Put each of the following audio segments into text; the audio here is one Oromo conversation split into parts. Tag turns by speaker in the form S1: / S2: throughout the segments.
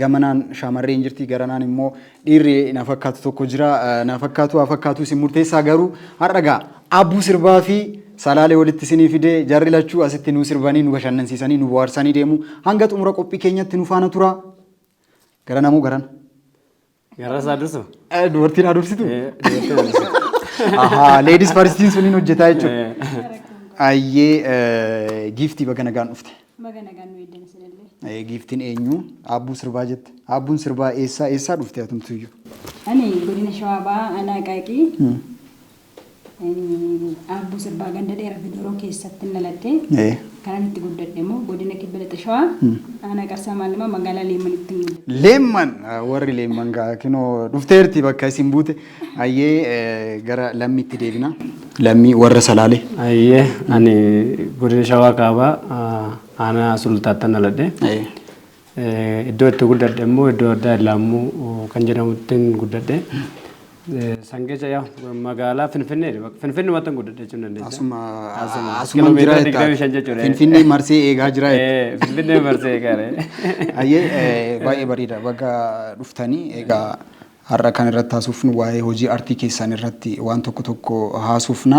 S1: Gamanaan shaamarreen jirti garanaan immoo dhiirri na fakkaatu tokko jira na fakkaatu haa fakkaatu isin murteessaa garuu har'a gaa abbuu sirbaa fi salaalee walitti isinii fide jarri lachuu asitti nu sirbanii nu bashannansiisanii nu bohaarsanii deemu hanga xumura qophii keenyatti nu faana tura garana moo garana Garaa
S2: isaa dursu. Dubartiin haa dursitu.
S1: Dubartiin haa dursu. Ahaa, leedis faristiin suniin hojjetaa jechuudha. Ayyee giiftii baga nagaan dhufte. Baga nagaan nu
S3: eegdan isinillee. Giiftiin eenyu?
S1: Aabbuu sirbaa jette. Aabbuun sirbaa eessaa eessaa dhufte atumtuyyuu? Ani godina
S3: Shawaa Bahaa Anaa Qaaqii Aabbuu Sirbaa Ganda Dheera Fidoroo keessattin dhaladhe. Ee. Kanan itti guddadhe immoo Godina Kibba Lixa Shawaa Aanaa Qarsaa Maannamaa Magaalaa Leemmanitti hin guddadhe. Leemman ah, warri
S1: leemman gaa kinoo dhufteerti bakka isin buute. Ayyee eh, gara lammiitti deebina. Lammii warra salaalee. Ayyee ani
S2: godina shawaa kaabaa ah, aanaa sulultaattan dhaladhe. Ayyee. Iddoo itti guddadhe immoo iddoo addaa Illaammuu kan jedhamuttin guddadhe. San keessa yaa magaalaa Finfinnee Finfinnumattan guddadhe jechuun dandeessa. Asuma Asuma. asuman jira
S1: Kilomeetira digdamii shan jettaa. jechuudha. Finfinnee marsee eegaa jira jetta. Eh, Finfinnee marsee
S2: eegaare. Ayyee eh,
S1: baay'ee bareeda baga dhuftanii egaa Har'a kan irratti haasofnu waa'ee hojii artii keessaan irratti waan tokko tokko haasofna.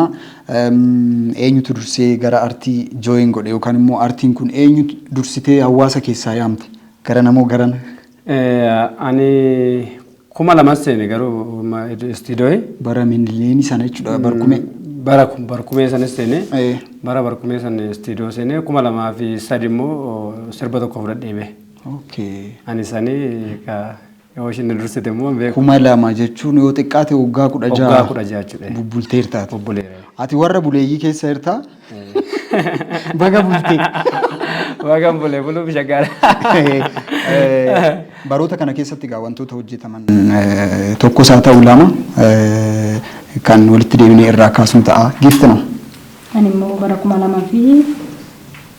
S1: Eenyutu dursee gara artii join godhe yookaan immoo artiin kun eenyu dursitee hawaasa keessaa yaamte? Garana moo garana? Ani
S2: kuma lamas seene garuu istiidooyi. Bara miniliini
S1: sana jechuudha barkumee. Bara barkumee
S2: sanis seene. Bara barkumee sana istiidoo seene kuma lamaa fi sadi immoo sirba tokko fudhadhee bee. Ani sanii Yoo ishiin na dursite immoo hin beeku. Kuma lama jechuun
S1: yoo xiqqaate waggaa kudha Waggaa jaha kudha jaha jechuudha.
S2: bubbulteertaati. Bubbuleera.
S1: Ati warra
S2: buleeyyii
S1: keessa jirtaa? Baga bultee. Waaqaan
S2: bulee buluuf shaggaara.
S1: Eh, baroota kana keessatti egaa wantoota hojjetaman eh, tokkos haa ta'u lama eh, kan walitti deebinee irraa kaasnu ta'a. Giifti noo. Ani immoo
S3: bara kuma lamaa fi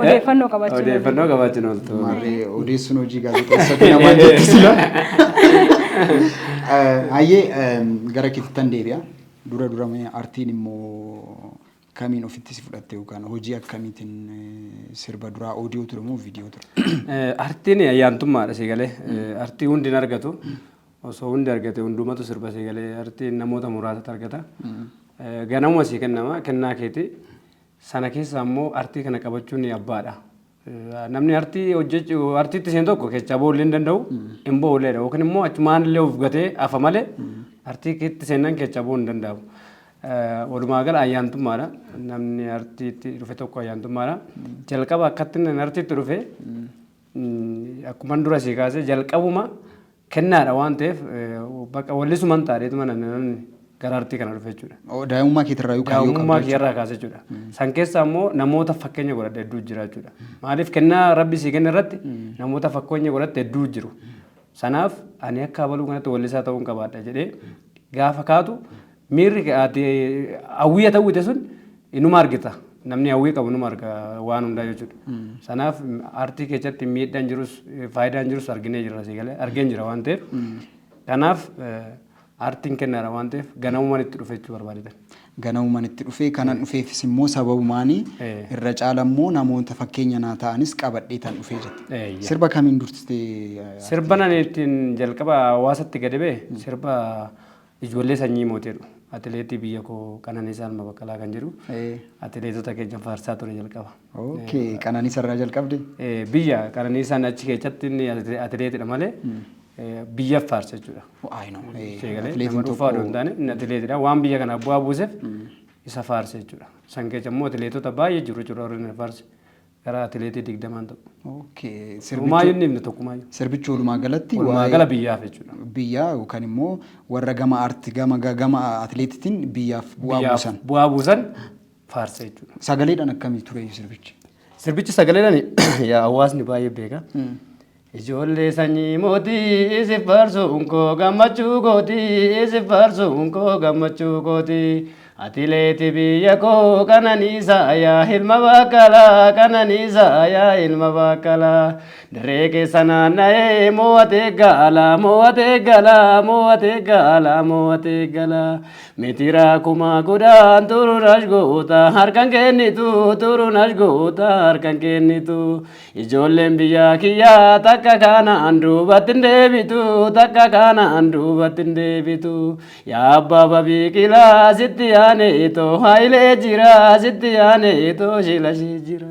S3: Odeeffannoo qabachuun Odeeffannoo qabaachuun ooltu.
S2: Maarree odeessuun hojii
S1: gaazexeessatti namaa jirti sila. Hayyee gara kittan deebi'a. Dura dura mee artiin immoo kamiin ofitti si fudhatte yookaan hojii akkamiitiin eh, sirba duraa oodiyoo ture moo viidiyoo ture? Eh, Artiin ayyaantummaadha
S2: si galee. Eh, Artii hundi hin argatu. Osoo hundi argate hundumatu sirba si galee artiin namoota muraasatu argata. Eh, Ganamuma si kennama kennaa keeti. Sana keessaa immoo artii kana qabachuun abbaadha. Namni artii hojjechu artiitti seen tokko keessaa ba'uu illee hin danda'u hin ba'u illee dha yookiin immoo achumaan illee of gatee hafa malee artii keetti seennan keessaa ba'uu hin danda'u. Walumaa gala ayyaantummaadha. Namni artiitti dhufe tokko ayyaantummaadha. Jalqaba akkatti inni artiitti dhufe akkuman dura sii kaase jalqabuma Kennaadha waan ta'eef baqa wallisuman taadheetuma namni gara artii kana dhufe jechuudha. Oo, Daa'imummaa keetirraa yoo kaayyoo qabdu
S1: Daa'imummaa jechuudha. kiyyarraa kaase jechuudha.
S2: San keessaa immoo namoota fakkeenya godhadhe hedduu jira jechuudha. Maaliif kennaa rabbi sii kenne irratti namoota fakkeenya godhatte hedduu jiru. Sanaaf ani akka abaluu kanatti wallisaa ta'uun qabaadha jedhee gaafa kaatu Miirri ati hawwii ati hawwite sun inuma argita. Namni hawwii qabu inuma arga waan hundaa jechuudha. Sanaaf aartii keessatti miidhaan jirus faayidaan jirus arginee jirra sii galee argeen jira waan ta'eef. Kanaaf aartiin kennaadha waan ta'eef ganamumaan itti dhufe jechuu barbaadatan. Ganamumaan itti
S1: dhufe kanan dhufeefis immoo sababumaani irra caala immoo namoota fakkeenya naa ta'anis qabadhee tan dhufee jette. Sirba kamiin dursitee? Sirba nan ittiin
S2: jalqaba hawaasatti gadi ba'e sirba Ijoollee sanyii mooti jedhu. Atileetii biyya koo Qananiisaa Ilma Baqqalaa kan jedhu Ee. atileetota keenya faarsaa ture jalqaba. Okay. Qananiisa
S1: irraa jalqabde. Eh, Biyya Qananiisaan
S2: achi keessatti inni ati- atileetidha malee eh, biyyaaf faarsa jechuudha. I know. Ee, Ishee galee atileetiin nama dhuunfaa tokko- odoo hin taane inni atileetidha. Waan biyya kanaaf bu'aa buuseef isa faarsa jechuudha. San keessa immoo atileetota baay'ee jiru jechuudha warri inni faarse. Gara atileetii digdamaan ta'u. Okay. Sirbichi, Sirbumaa hin himne tokkumaayyuu. sirbichi walumaa galatti
S1: Walumaa waa'ee gala biyyaaf
S2: jechuudha. biyyaa yookaan immoo
S1: warra gama arti gama ga- gama atileetitiin biyyaaf bu'aa Biyyaaf buusan. bu'aa buusan
S2: faarsa jechuudha. Sagaleedhaan akkamii ture
S1: sirbichi? Sirbichi sagaleedhaan yaa
S2: hawaasni baay'ee
S1: beeka.
S2: Ijoollee sanyii mootii isif faarsuun koo gammachuu kooti isif faarsuun koo gammachuu kooti atileeti biyya koo qananiisaa yaa ilma baakkalaa qananiisaa yaa ilma baakkalaa dirree keessa naanna'ee moo'atee gaala moo'atee gala moo'atee gaala moo'atee gala mitiraa kumaa gudaan turuun ashgoota harkan kennitu turuun ashgoota harkan kennitu Ijoolleen biyya kiyyaa takka kanaan duubatti hin deebitu takka kanaan duubatti hin deebitu yaa abbaa babiiqilaa sitti yaane itoo haayilee jira sitti yaane itoo shilashii jira.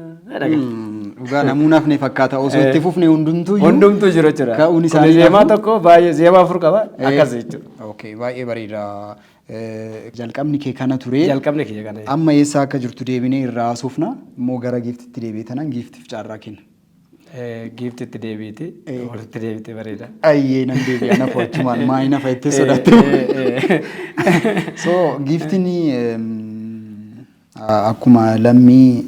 S2: Dhugaa
S1: namuun hafne fakkaata osoo itti fufne hundumtuu iyyuu. Hundumtuu jiru jechuudha.
S2: Ka'uun isaanii Kuni zeemaa lafuu.
S1: tokko baay'ee
S2: zeemaa afur qaba akkas jechuudha. Okay, baay'ee bareeda.
S1: Jalqabni kee kana ture. Jalqabni kiyya kana jedhe. Amma
S2: eessaa akka jirtu
S1: deebinee irraa haasofna. Immoo gara giiftitti deebi'e tanaan giiftiif carraa kenna. Eh, Giifti
S2: itti deebiiti. Eh. Walitti deebitee bareeda. Ayyee nan deebi'a
S1: na fo'achumaan maa hin hafa jettee Eh, sodaatte. eh, eh. So giiftiin ehm, Akkuma lammii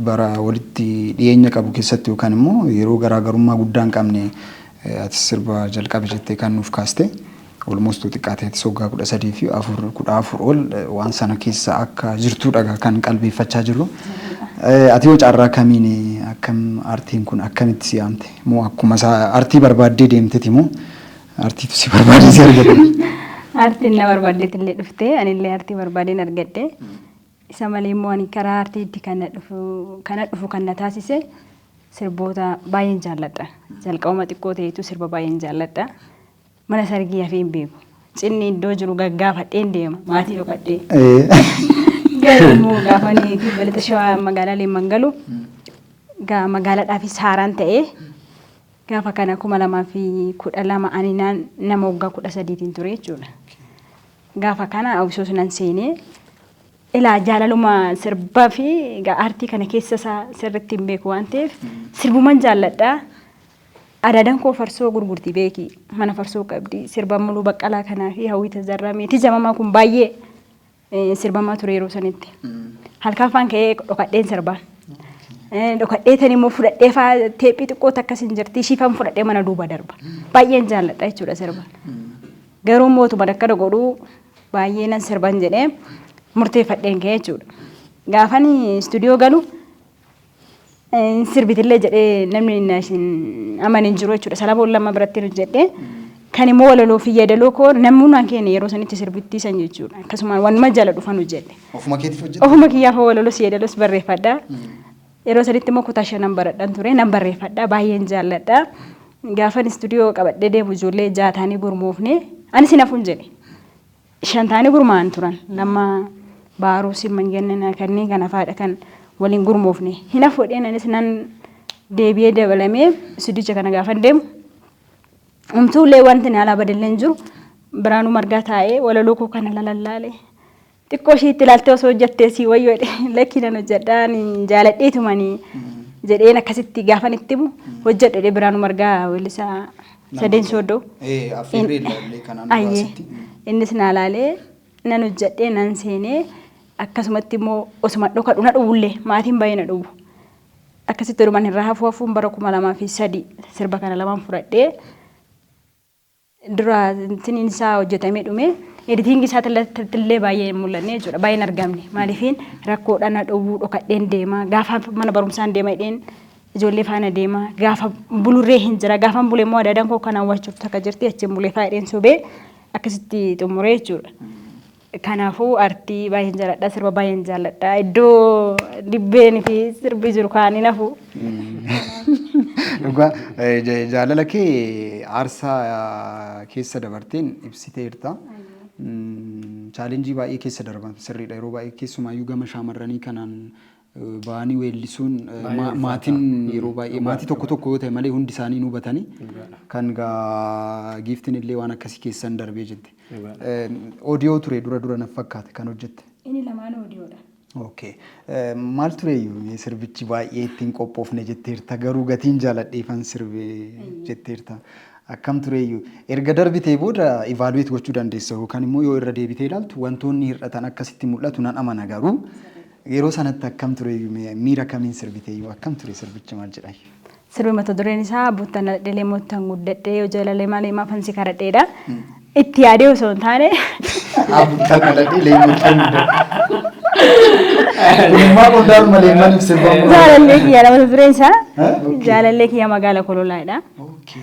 S1: bara walitti dhiyeenya qabu keessatti yookaan immoo yeroo garaa garummaa guddaa hin qabne atis sirba jalqabi jettee kan nuuf kaaste almost yoo xiqqaate atis waggaa kudha sadii fi afur kudha afur ol waan sana keessa akka jirtuudha kan qalbeeffachaa jirru. Ati yoo carraa kamiin akkam artiin kun akkamitti si yaamte moo akkuma isaa artii barbaaddee deemteti moo Artiitu si barbaadee si argate. Artiin na
S3: barbaaddeet illee dhufte anillee artii barbaadeen argadhe. Isa malee immoo ani karaa artiitti kan na dhufu kan na dhufu kan na taasise sirboota baay'een jaalladha. Jalqabuma xiqqoo ta'eetu sirba baay'een jaalladha. Mana sargii hafee hin beeku. Cinni iddoo jiru gaggaafadheen deema maatii dhokadhee. Garuu immoo gaafa inni balata shawaa magaalaa Leemman galu gaa magaalaadhaafis haaraan ta'ee Gaafa kana 2012 ani naan nama waggaa 13tiin ture jechuudha. Gaafa kana hawwisoos nan seenee ilaa jaalaluma sirbaa fi egaa aartii kana keessa isaa sirriitti hin beeku waan ta'eef sirbuman jaalladha. Adaadan koo farsoo gurgurti beeki mana farsoo qabdi sirba muluu baqqalaa kanaa fi hawwii tazarraa meetii jamamaa kun baay'ee Eh, sirbamaa ture yeroo sanitti. Halkan faan ka'ee dhokadheen sirbaa. Eh, Dhokadhee tan immoo fudhadhee faa teephii xiqqoo takkas hin jirti ishii faan fudhadhee mana duuba darba. Baay'een jaalladha jechuudha sirba. Garuu mootumaan akkana godhuu baay'ee nan sirban jedhee murteeffadheen ka'e jechuudha. Gaafan istuudiyoo galu Hin sirbitillee jedhee namni na isin amane hin jiru jechuudha. Sana boolla amma biratti nu jedhee kan immoo walaloo fi yeedaloo koo namni hundaan keenya yeroo sanitti sirbittii san jechuudha. Akkasumaan wanuma jala dhufa nu jedhe. Ofuma keetiif hojjette? Ofuma
S1: kiyyaaf walaloos
S3: yeedaloos barreeffadha. Yeroo sanitti immoo kutaa shanan baradhan ture nan barreeffadha baay'een jaalladha. Gaafan istuudiyoo qabadhee deemu ijoollee jaha taanee gurmoofne anis hin hafuun jedhe. shan ta'anii gurmaa'an turan. Lammaa Baaruu Simman Gannanaa kanneen kana faadha kan waliin gurmoofne. Hin hafu jedheen anis nan deebi'ee dabalamee istuudicha kana gaafan deemu. Umtuulee wanti na alaa badallee hin jiru. Biraanuu margaa taa'ee walaloo koo kana lalallaale. Xiqqoo ishee itti ilaaltee osoo hojjattee sii wayyoo jedhee lakkii nan hojjadhaa ani jaaladheetumani jedheen akkasitti gaafan itti himu hojjadhu jedhee Biraanuu margaa weellisaa Sadeen sooddoo. Ee affeerree
S1: ilaallee kanaan Ayyee. duraasitti. Innis naa laalee
S3: nan hojjedhee nan seenee akkasumatti immoo osuma dhokadhu na dhowwullee maatiin baay'ee na dhowwu. Akkasitti odumaan irraa hafuu hafuun bara kuma lamaa fi sadii sirba kana lamaan fudhadhee dura tiniin isaa hojjetamee dhume editingii isaa illee baay'ee hin mul'anne jechuudha baay'ee hin argamne maaliifiin rakkoodha na dhowwuu dhokadheen deema gaafa mana barumsaan deema jedheen ijoollee faana deema gaafa bulurree hin jira gaafan bule immoo adaadaan koo kanaan waachuuf takka jirti achiin bulee faayidheen sobee akkasitti xumuree jechuudha. Kanaafuu artii baay'een jaalladha sirba baay'een jaalladha iddoo dibbeen fi sirbi jiru kaanii nafu.
S1: Dhugaa eh, ja- jaalala kee aarsaa eh, keessa dabarteen ibsiteerta. Mm, Chaalenjii baay'ee keessa darban sirriidha yeroo baay'ee keessumaayyuu gama shaamarranii kanaan ba'anii weellisuun Baay'ee ma- ulfaata. maatiin Mm, yeroo baay'ee dhugaa, maatii tokko dhugaa. tokko yoo ta'e malee hundi isaanii nu batanii Dhugaadha. kan gaa giiftiin illee waan akkasii keessan darbee jette. Dhugaadha. Eh, Odiyoo ture dura dura naf fakkaate kan hojjette. Inni lamaan oodiyoodha.
S3: Okay. Eh,
S1: Maal tureyyuu mee sirbichi baay'ee ittiin qophoofne jetteerta garuu gatiin jaaladheefan sirbe jetteerta. Akkam tureyyuu erga darbitee booda evaluate gochuu dandeessa yookaan immoo yoo irra deebitee ilaaltu wantoonni hir'atan akkasitti mul'atu nan amana garuu Yeroo sanatti akkam tureyyuu mee miira kamiin sirbiteyyuu akkam ture sirbichi maal jedhayyu? Sirbi
S3: mata dureen isaa Bottan Dhaladhelee Moottan Guddadhee Yoo Jaalale Malee Maafan Si Kadhadheedha. Itti yaadee osoo hin taane Abuttan
S1: dhaladhee leenjottan Ummaa qondaan malee maaliif sirbamu? jaalallee kiyya mata
S3: dureen isaa Eh? Okay. jaalallee kiyya magaala kololaadha. Okay.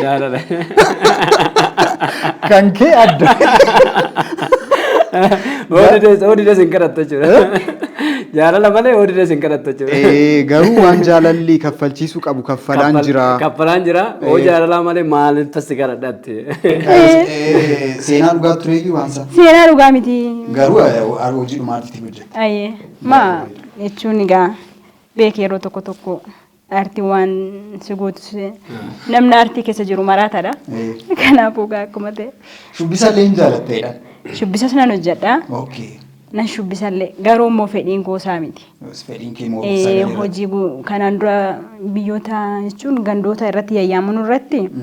S1: Jaalala. Kan kee adda.
S2: Oodides oodides hin kadhattu jechuudha. Jaalala malee oodides hin kadhattu jechuudha. Eh, Garuu waan jaalalli
S1: kaffalchiisuu qabu kaffalaan jira. Kaffalaan jira. Oo
S2: Eh. jaalalaa malee maaliif tassi kadhadha Eh,
S1: Seenaa dhugaa tureeyyuu waan isaa. Seenaa dhugaa miti.
S3: Garuu eh, ar-
S1: hojii dhumaatitti hojjette. Ayyee. Ma
S3: jechuun egaa beekee yeroo tokko tokko aartii waan si gootu si- namni aartii keessa jiru maraataadha. Eh, Kanaafuu egaa akkuma ta'e Shubbisa illee hin
S1: jaalatteedha. shubbisas nan
S3: hojjedha. Okay. Nan
S1: shubbisallee
S3: garuu immoo fedhiin goosaa miti. Yoos Fedhiin kee moo Eh, sagalee
S1: irratti? hojii gu- kanaan
S3: dura biyyoota jechuun gandoota irratti yayyaaman irratti Mm.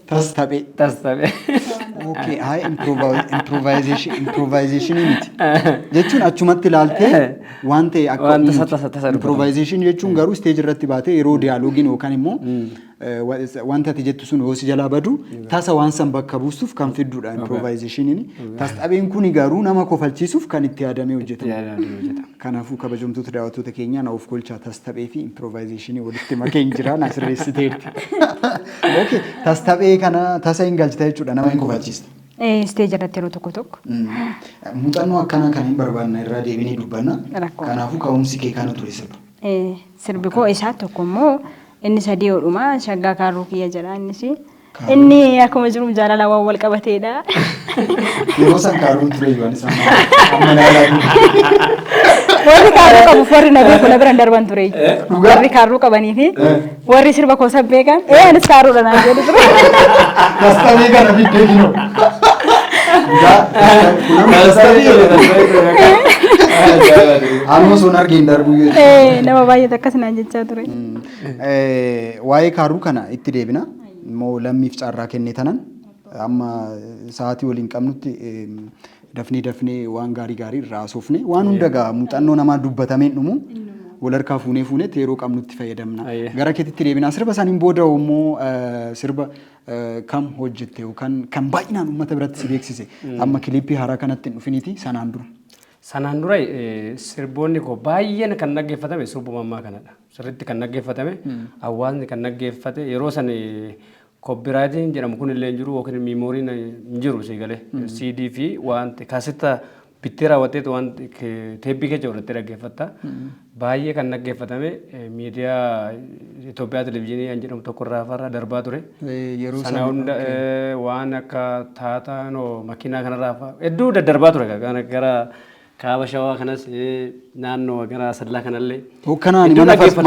S2: Tastabee. Tastabee. Okay,
S1: haa improvisation improvisation miti. Jechuun achumatti ilaaltee waan ta'e akka Waan tasa- uumtu. tasa- tasa dubbatu. improvisation jechuun garuu stage irratti baatee yeroo dialogiin yookaan immoo eh, wa- wanta ati jettu sun yoo si jalaa badu tasa waan san bakka buustuuf kan fiddudha improvisationiin. Tastabeen kuni garuu nama kofalchiisuuf kan itti yaadamee hojjetama. Yaadaan hojjetama. Kanaafuu kabajamtoota daawwattoota keenyaa na of kolchaa tastaphee fi impiroovaayizeeshinii walitti makeen jira na sirreessiteerti. Okay, tastaphee kana tasa hin galchita jechuudha nama hin kufachiista. Isteeji irratti
S3: yeroo tokko tokko. Muuxannoo
S1: akkanaa kan hin barbaanne irraa deebinee dubbanna. Rakkoo. Kanaafuu ka'umsi kee kana ture sirba. Eh, Sirbi koo
S3: isaa tokko immoo inni sadii hodhuma shaggaa kaarruu kiyya jedha innis Inni akkuma jiru jaalala waan wal qabateedha.
S1: Yeroo san kaaruu ture yoo anis amma amma laalaa
S3: Warri kaaruu qabuuf warri na beeku na biran darban ture. Dhugaa? Warri kaaruu qabanii fi Eh. warri sirba koo san beekan ee anis kaaruudha naan jedhu ture. kastamee
S1: kana biddee kinoo. Amma sun argeen darbuu yoo Ee, Nama baay'eetu
S3: akkas naan jechaa ture.
S1: Waa'ee kaaruu kana itti deebina. Immoo lammiif carraa kennee tanan amma sa'aatii waliin qabnutti dafnee dafnee waan gaarii gaarii irraa haasofne waan hunda gaa muuxannoo namaa dubbatameen dhumu wal harkaa fuunee fuunetti yeroo qabnutti fayyadamna. Gara keetitti deebina. Sirba saniin booda immoo sirba kam hojjette yookaan kan baay'inaan uummata biratti si beeksise amma kiliippii haaraa kanatti hin dhufiniiti sanaan dura. Sanaan dura
S2: sirboonni koo baay'een kan dhaggeeffatame sirbuma ammaa kanadha. sirriitti kan dhaggeeffatame hawaasni kan dhaggeeffate yeroo san koppiraayitiin jedhamu kun illee hin jiru yookiin miimooriin hin jiru sii galee CD fi wanti kaasetta bittee raawwatteetu waan teeppii keessa godhattee dhaggeeffatta. Baay'ee kan dhaggeeffatame miidiyaa Itoophiyaa televizyiinii kan jedhamu tokko irraa farra darbaa ture. Yeroo Sana sana hunda eh, waan akka taataa no makiinaa kanarraa fa'aa hedduu daddarbaa ture gara- gara Kaaba Shawaa kanas naannoo gara Asadlaa kanallee. Hookkanaani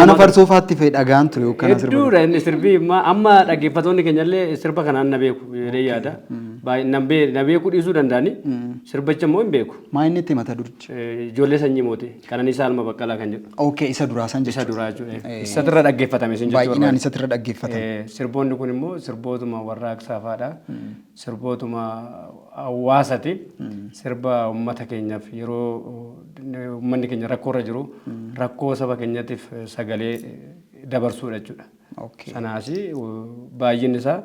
S1: mana farsoo faatti fa'i dhagaan ture hookkana sirba. Hedduudha inni sirbi
S2: amma dhaggeeffatoonni keenyallee sirba kanaan na beeku jedhee yaada. Na beeku dhiisuu danda'ani sirbicha immoo hin beeku. Maa inni itti mata durchi?
S1: Ijoollee sanyii
S2: mootii Qananiisaa Alma Baqqalaa kan jedhu. Ookee isa duraa san jechuudha. Isa
S1: duraa jechuudha. Isatirra
S2: dhaggeeffatame sin jechuudha. Baay'inaan isatirra dhaggeeffatame.
S1: Sirboonni kun immoo
S2: sirbootuma warraaqsaa fa'aadha. Sirbootuma hawaasati. Sirba ummata keenyaaf yeroo ummanni keenya rakkoo irra jiru rakkoo saba keenyatiif sagalee dabarsuudha jechuudha. Okay. Sanaasi baay'inni isaa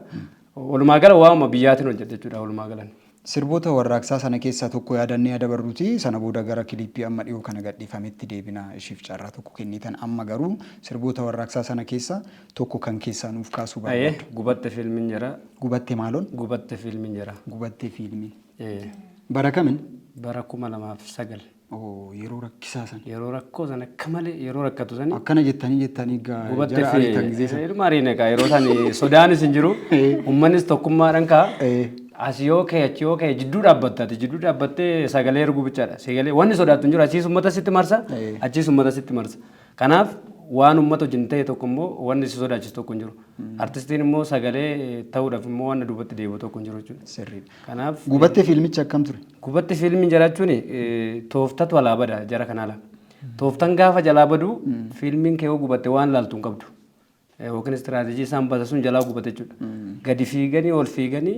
S2: walumaa gala waa'uma biyyaatiin hojjeta jechuudha walumaa galan.
S1: Sirboota warraaqsaa sana keessaa tokko yaadannee adabarruti sana booda gara kiliippii amma dhiyoo kana gadhiifametti deebina ishiif carraa tokko kennitan amma garuu sirboota warraaqsaa sana keessa tokko kan keessaa nuuf kaasuu Aye barbaaddu. gubatte fiilmin jira.
S2: Gubatte maaloon?
S1: Gubatte fiilmin jira.
S2: Gubatte fiilmin.
S1: Ee, Bara kamin? Bara kuma lamaaf
S2: sagal. Oo, yeroo
S1: rakkisaa san. Yeroo rakkoo san akka
S2: malee yeroo rakkatu sani Akkana jettanii jettanii
S1: gaa gubatte jara ariitan fi
S2: gisee san. ilma ariine kaa yeroo san sodaanis hin jiru. Ummannis tokkummaadhaan kaa. Ee. As yoo ka'e achi yoo ka'e jidduu dhaabbatta ati jidduu dhaabbattee sagalee erguu bichaadha. Sagalee wanni sodaattu hin jiru achiis ummata sitti marsa Ee. achiis ummata sitti marsa. Kanaaf waan uummata wajjin ta'e tokko immoo wanni si sodaachisu tokko hin jiru. Artistiin immoo sagalee ta'uudhaaf immoo wanna duubatti deebi'u tokko hin jiru jechuudha. Sirriidha. Kanaaf
S1: Gubattee
S2: fiilmichi akkam
S1: ture? Gubatti fiilmiin jiraachuun
S2: tooftatu alaa bada jara kana ala. Tooftan gaafa jalaa badu fiilmiin kee yoo gubatte waan laaltu hin qabdu. yookiin istiraatejii isaan basa sun jalaa gubate jechuudha. Gadi fiiganii ol fiiganii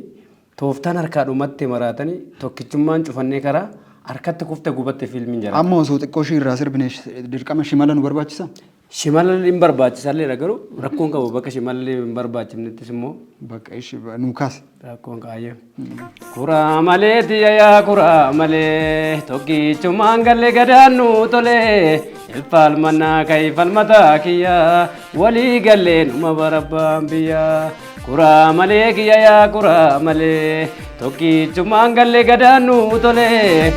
S2: tooftaan harkaa dhumatte maraatanii tokkichummaan cufannee karaa harkatti kufte gubatte fiilmiin jala. Amma osoo xiqqoo ishii irraa
S1: sirbine dirqama shimala nu barbaachisa? Shimala hin
S2: barbaachisalleedha garuu rakkoon qabu bakka shimalli hin barbaachifnettis immoo. Bakka ishii nu
S1: kaase. Rakkoon kaayyoo.
S2: Kuraa malee tiya yaa kuraa malee tokkichumaan galle gadaan nu tole ilfaal mannaa ka'i falmataa kiyya walii gallee numa barabbaan biyya kuraa malee kiyya yaa kuraa malee tokkichumaan galle gadaan nu tole.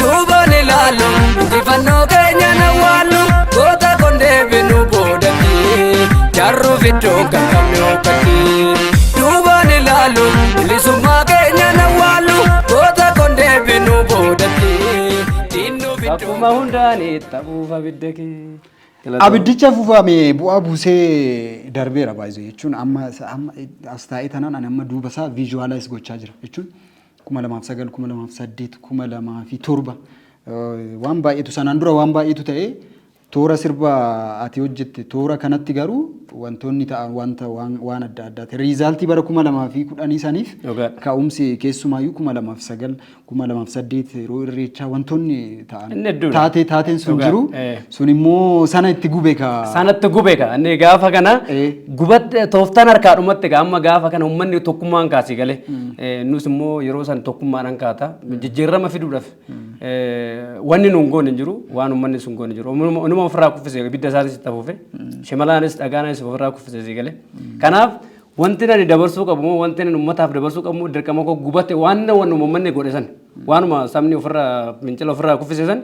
S4: Duubaan ilaalu injifannoo keenya na waallu goota kun deebinu boodatti jarru fiddoon kan qabne hokkatti. Duubaan ilaalu bilisummaa keenya na waallu goota kun deebinu boodatti diinnu fiddoon. Akkuma hundaan
S2: taphuuf abidda kee. Abiddicha
S1: fufame bu'aa buusee darbeera baay'ee jechuun amma amma as taa'ee tanaan ani amma duuba isaa viizuwaalaayiz gochaa jira jechuun 2009, 2008, 2007 waan baay'eetu sanaan dura waan baay'eetu ta'e toora sirba ati hojjette toora kanatti garuu wantoonni ta'an wanta waan waan adda addaati. Riizaaltii bara 2010 saniif Dhugaadha. ka'umsi keessumaayyuu 2009, 2008 yeroo irreechaa wantoonni ta'an Inni hedduudha. taatee taateen sun Dhugaa, jiru eh. Sun immoo sana itti gube ka. Sanatti gube ka. Inni
S2: gaafa kana Eh. gubatte tooftaan harkaa dhumatti ka amma gaafa kana uummanni tokkummaan kaasii galee. Eh, Nus immoo yeroo san tokkummaadhaan kaata. Jijjiirama fiduudhaaf eh, wanni nuun goone hin jiru waan uummanni sun goone hin jiru. Uummanuma uummanuma ofirraa kuffisee ibidda isaanis itti hafuufe. Shimalaanis dhagaanis ofirraa kuffisee sii galee. Kanaaf wanti ani dabarsuu qabu moo wanti ani uummataaf dabarsuu qabu moo dirqama koo gubate waan na wannu uummanni godhe san. Waanuma sabni ofirraa fincila ofirraa kuffise san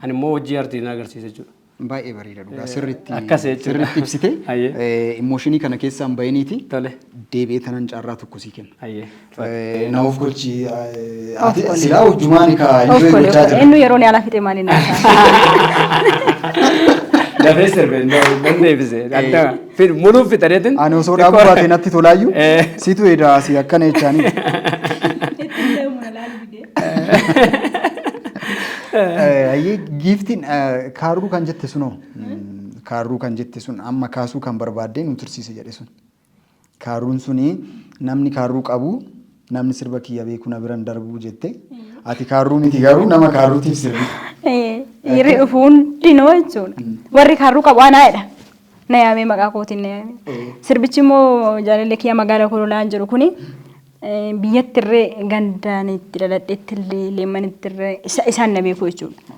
S2: ani immoo hojii artiin agarsiisa jechuudha. Baay'ee bareeda dhugaa
S1: sirriitti akkas jechuudha. sirriitti
S2: ibsite Hayyee.
S1: Eh, immooshinii kana keessaan bahiniiti Tole. deebi'ee
S2: tanan carraa
S1: tokko sii kenna. Hayyee. Eh, Na of gochi eh, Of ati godhe. silaa hojjumaani ka Of enjoy godhe, gochaa of godhe. jira. Inni yeroo ni alaa fixee maaliin
S3: alaa?
S2: Dafee sirbee hin deebise. Adda. Fid muluu fitaneetin. Ani osoo dhaabuu baate
S1: natti tolaayyuu Eh. situ edaa asii akkana jechaanii. Eh, Ayyee giiftiin eh, kaarruu kan jette sunoo Mm, kaarruu kan jette sun amma kaasuu kan barbaaddee nu tursiise jedhe sun. Kaarruun suni namni kaarruu qabu Namni sirba kiyya beeku na biran darbu jette. Ati kaarruu miti garuu nama kaarruutiif sirbi. Dhiirri
S3: dhufu hundinuu jechuudha. Warri kaarruu qabu anaa jedha. Na yaamee maqaa kootiin na yaamee. Sirbichi immoo jaalallee kiyya magaalaa Kololaan jiru kuni biyyattirree gandaan itti dhaladhetti illee leemmanittirree isaan na beeku jechuudha.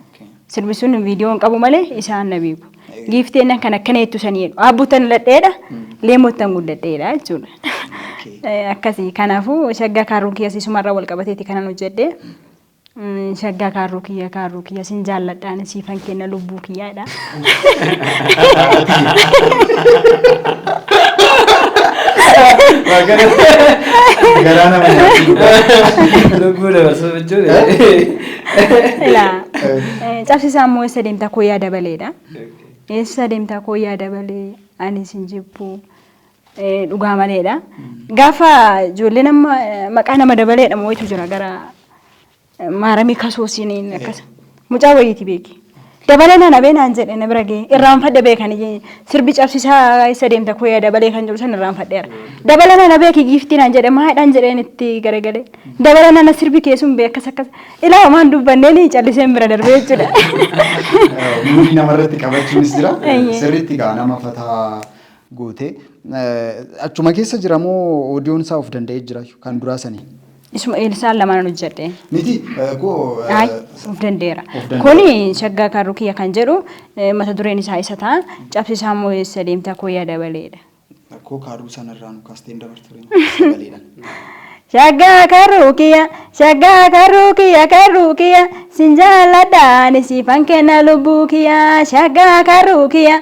S3: Sirbi sun viidiyoo hin qabu malee isaan na beeku. Giifteen kan akkana jettu sanii jedhu. Aabbuutan ladheedha, leemottan guddadheedha jechuudha. Eh, Akkasii kanaafuu shaggaa kaarruu kiyya siisumarraa wal qabateeti kanan hojjedhe. Mm, Shaggaa kaarruu kiyya kaarruu kiyya sin jaalladhaan siifan kenna lubbuu kiyyaadha.
S1: Garaa nama nyaachuu.
S2: Lubbuu dabarsuu jechuudha. Ilaa
S3: eh, cabsisaa immoo eessa deemtaa koo yaa dabaleedha. Eessa deemtaa koo yaa dabalee ani isin jibbu eh, dhugaa maleedha. Gaafa ijoollee nama eh, maqaa nama dabaleedha moo'itu jira gara eh, maaramii kasuusiin akkas. Mucaa wayiiti beeki. Dabalee na dhabee naan jedhe na bira ga'e. Irraanfadhe beekan iyyee sirbi cabsisaa isa deemta koo yaa dabalee kan jedhu san irraanfadheera. Dabala nana beeki giiftii naan jedhe maadhaan jedheen itti garagalee. Dabala nana sirbi kee sun bee akkas akkas ilaa homaan dubbanneen calliseen bira darbee jechuudha.
S1: Muudii namarratti qabachuunis jira. Eeyyee. Sirriitti gaa nama fataa gootee. Achuma keessa jira moo oodiyoon isaa of danda'ee jira kan duraa sanii? Isuma Eelsaan
S3: lamaan hojjedhe. Miti eh, koo
S1: eh, Ay, of danda'eera. Of
S3: danda'eera. Kuni shaggaa kan rukiya kan jedhu eh, mata dureen isaa isa ta'a. Cabsisaa moo eessa deemta koo yaa dabaleedha. koo kaaruu
S1: sanarraa nu kaasteen dabartu sagaleedhaan. Shaggaa
S3: kan rukiya, shaggaa kan rukiya, kan rukiya, sin jaalladha ani siifan kenna lubbuu kiya. Shaggaa kan rukiya,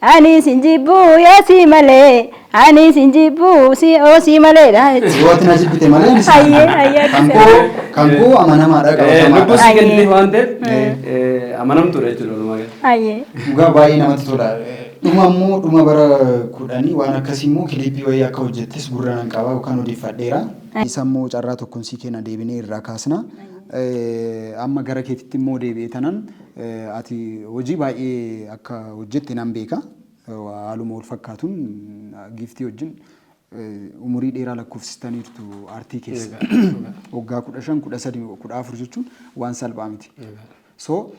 S3: Ani sin jibbuu yoo si malee ani sin jibbuu si oo si maleedha jechuudha. Yoo ati na jibbite
S1: malee ani si Ayyee, amanama. ayyee, Kan akkasuma. koo kan koo amanamaadha Eh, qabatamaadha. Lubbuu si Ayyee. kennite waan
S2: ta'eef eh, eh, amanamtuudha jechuudha walumaa gala. Ayyee. Dhugaa baay'ee
S1: namatti tola. Dhuma immoo dhuma bara kudhanii waan akkasii immoo kiliippii wayii akka hojjettes gurra nan qaba yookaan odeeffadheera. Isa immoo carraa tokkoon sii kenna deebinee irraa kaasna. Eh, Amma gara keetitti immoo deebi'ee tanan Ati hojii baay'ee akka hojjette nan beeka. Haaluma wal fakkaatuun Giiftii wajjin umurii dheeraa lakkoofsistaniirtu aartii keessa. Waggaa kudha shan, kudha sadi, kudha afur jechuun waan salphaa miti. So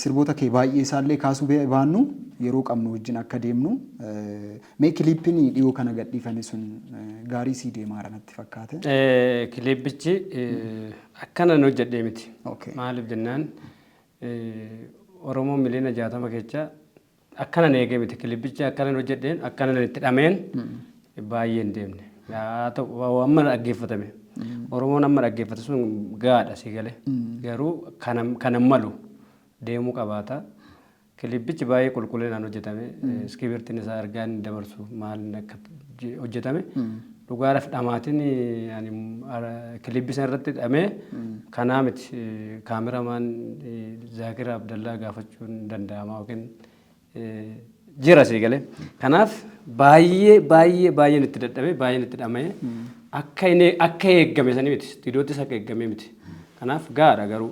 S1: sirboota kee baay'ee isaallee kaasuu baannu yeroo qabnu wajjin akka deemnu mee kiliippiin dhiyoo kana gadhiifame sun gaarii sii deemaara natti fakkaate. Kiliippichi
S2: akkanan hojjedhee miti. Maaliif jennaan Oromoo miliyoona jaatama kecha akkanan eegee miti kilibbicha akkanan hojjedheen akkanan itti dhameen baay'ee hin deemne. Haa ta'u amma dhaggeeffatame. Oromoon amma dhaggeeffate sun gaadha si galee. Garuu kanan malu deemuu qabaata. Kilippichi baay'ee qulqullinaan hojjetame. Iskiibirtiin isaa ergaa inni dabarsu maal inni akka je- hojjetame. Dhugaadhaaf dhamaatiin ani ara- kilippi sana irratti dhamee kanaa miti eh, kaameramaan eh, Zaakir Abdallaa gaafachuun danda'ama yookiin eh, jira sii galee. Kanaaf baay'ee baay'ee baay'een itti dadhabee baay'een itti dhama'ee akka inni akka eeggame sanii miti. Istiidiyoottis akka eeggamee miti. Kanaaf gaadha garuu.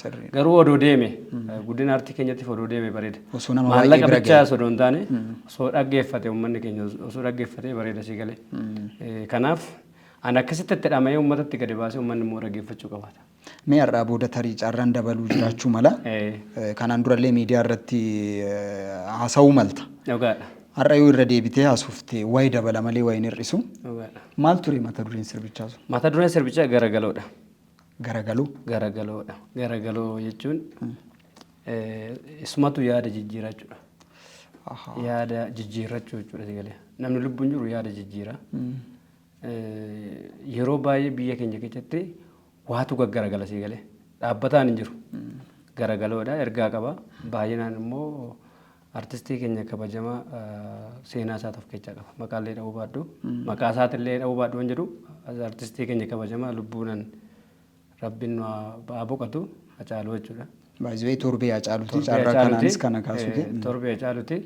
S2: Sirrii. Garuu odoo deeme guddina artii keenyattiif odoo deeme bareeda. Osoo nama baay'ee Maallaqa bira bichaa ga'e. osoo hin taane osoo dhaggeeffate uummanni keenya os- osoo dhaggeeffate bareeda sii galee. Eh, Kanaaf ani akkasitti itti dhama'ee uummatatti gadi baasee uummanni immoo dhaggeeffachuu qabaata. Mee har'aa booda
S1: tarii carraan dabaluu jiraachuu mala. Eh, Eh, Kanaan durallee miidiyaa irratti eh, haasa'uu malta. Dhugaadha. Har'a yoo irra deebitee haasofte wayi dabala malee wayi hin hir'isu. Dhugaadha. Maal ture mata dureen sirbichaa sun? Mata dureen sirbichaa
S2: garagaloodha. garagalu.
S1: garagaloo dha.
S2: Garagaloo jechuun eh, isumatu yaada jijjiiraa jechuudha. Aha. Yaada jijjiirrachuu jechuudha si galee. Namni lubbuun jiru yaada jijjiira. Eh, Yeroo baay'ee biyya keenya keessatti waatu gaggaragala si galee. Dhaabbataan hin jiru. Garagaloodha, ergaa qaba. Baay'inaan immoo Artistii keenya kabajamaa seenaa isaatu of keessaa qaba. Maqaa illee dha'uu baadhu. Maqaa isaati illee dha'uu baadhu hin jedhu. Artistii keenya kabajamaa lubbuunan rabbiin nu haa boqatu Hacaaluu jechuudha. Baay'ee torbee
S1: Hacaaluuti. Torbee Carraa Hacaaluuti. kanaanis kana kaasuu Eh, kee. Torbee Hacaaluuti.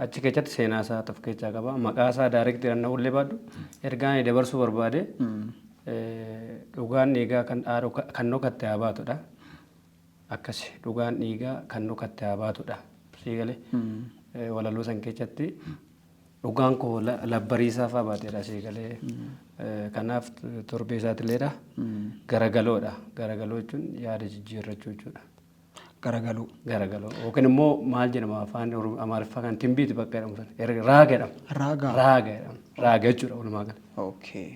S2: Achi keessatti seenaa isaa of keessaa qaba. Maqaa isaa daayirektii dhanna'uu illee baadhu. Ergaa inni dabarsuu barbaade eh, dhugaan dhiigaa kan dhaaru kan dhokatte haa baatudha. Akkasi dhugaan dhiigaa kan dhokatte haa baatudha. Sii galee? Walaloo san keessatti dhugaan koo labbariisaa fa'aa baateedha sii galee. Kanaaf torbee isaatileedha. Garagaloodha. Garagaloo jechuun yaada jijjiirrachuu jechuudha. Garagaloo.
S1: Garagaloo yookiin
S2: immoo maal jedhama afaan amaariffaa kan timbiiti bakka jedhamu sana raaga jedhama. Raaga. Raaga
S1: jedhama.
S2: Raaga jechuudha walumaa gala. Okay.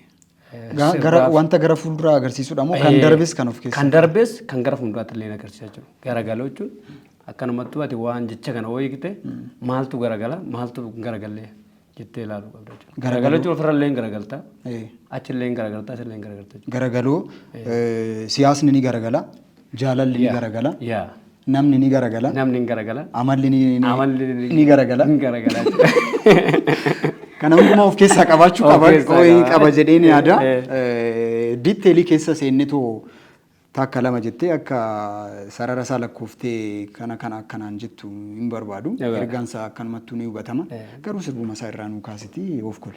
S1: Ga- gara sirbaaf- wanta gara fuulduraa agarsiisudha moo kan Eh, darbes kan of keessaa kan darbes kan gara
S2: fuulduraatti illee agarsiisaa jiru garagaloo jechuun akkanumattuu ati waan jecha kana ooyigte maaltu garagala maaltu hin garagalle jettee ilaaluu qabda jechuudha garagaloo jechuun ofirra illee hin garagalta Eh, achillee hin garagalta achillee hin garagalta jechuudha. garagaloo
S1: eh, siyaasni ni garagala Jaalalli ni Yeah. garagala. Yeah. Namni ni garagala. Namni hin garagala. Amalli
S2: ni, ni, Amalli
S1: ni- ni garagala. Hin
S2: garagala.
S1: Kana hundumaa of keessaa qabaachuu Of qaba keessaa qo'ee qaba. qaba jedheen yaada. Eh, Eh, Diitteelii keessa seennetu takka lama jettee akka sarara isaa lakkooftee kana kana akkanaan jettu hin barbaadu. Egaa. Ergaan isaa akkanumattuu ni hubatama. Eh. Garuu sirbuma isaa irraa nuu kaasiti of kole.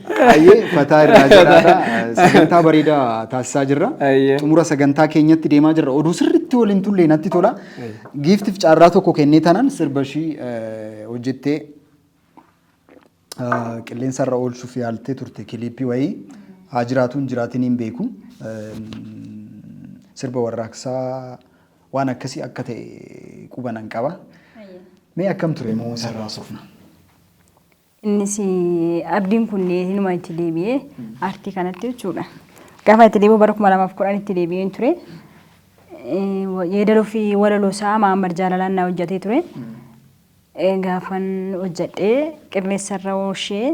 S1: Ayyee fataa irraa jiraadha. Sagantaa bareedaa taasisaa jirra. Ayyee. Xumura sagantaa keenyatti deemaa jirra. Oduu sirriitti waliin tullee natti tola. Giiftiif carraa tokko kennee tanan sirba ishii eh, hojjettee eh, qilleensa irra oolchuuf yaaltee turte kiliippii wayii haa jiraatu hin jiraatin hin beeku. Eh, Sirba warraaqsaa waan akkasii akka ta'e qubanan qaba. Mee akkam ture moo sarraa sofna?
S3: Innis abdiin kun hinuma itti deebi'e aartii kanatti jechuudha. Gaafa itti deebi'u bara 2010 itti deebi'een ture. Yeedaloo fi walaloo isaa Mahammad Jaalalaan na hojjatee ture. Gaafan hojjadhee qilleensarra ooshee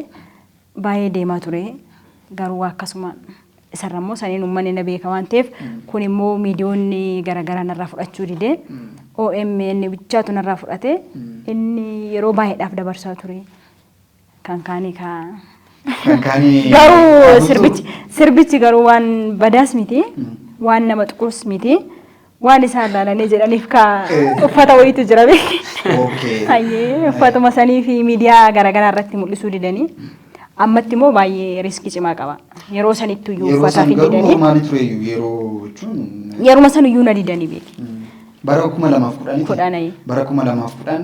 S3: baay'ee deemaa ture. Garuu akkasuma Isarra immoo saniin uummanni na beeka waan ta'eef kun immoo miidiyoonni garaagaraa narraa fudhachuu didee OMN bichaatu narraa fudhate inni yeroo baay'eedhaaf dabarsaa ture. Kan kaanii kaa. Kan kaanii. Garuu sirbichi sirbichi garuu waan badaas miti waan nama tuqus miti Waan isaan laalanii jedhaniif ka uffata wayiitu jira beeki. Okay. Hayyee uffatuma sanii fi miidiyaa garaagaraa irratti mul'isuu didanii ammatti immoo baay'ee riiskii cimaa qaba. Yeroo sanittuu iyyuu Yeroo uffata san fi garuu didanii normaali ture iyyuu yeroo jechuun yeruma san iyyuu na didanii beeki. bara kuma
S1: lamaaf kudhanii Kudhanii. bara kuma lamaaf kudhan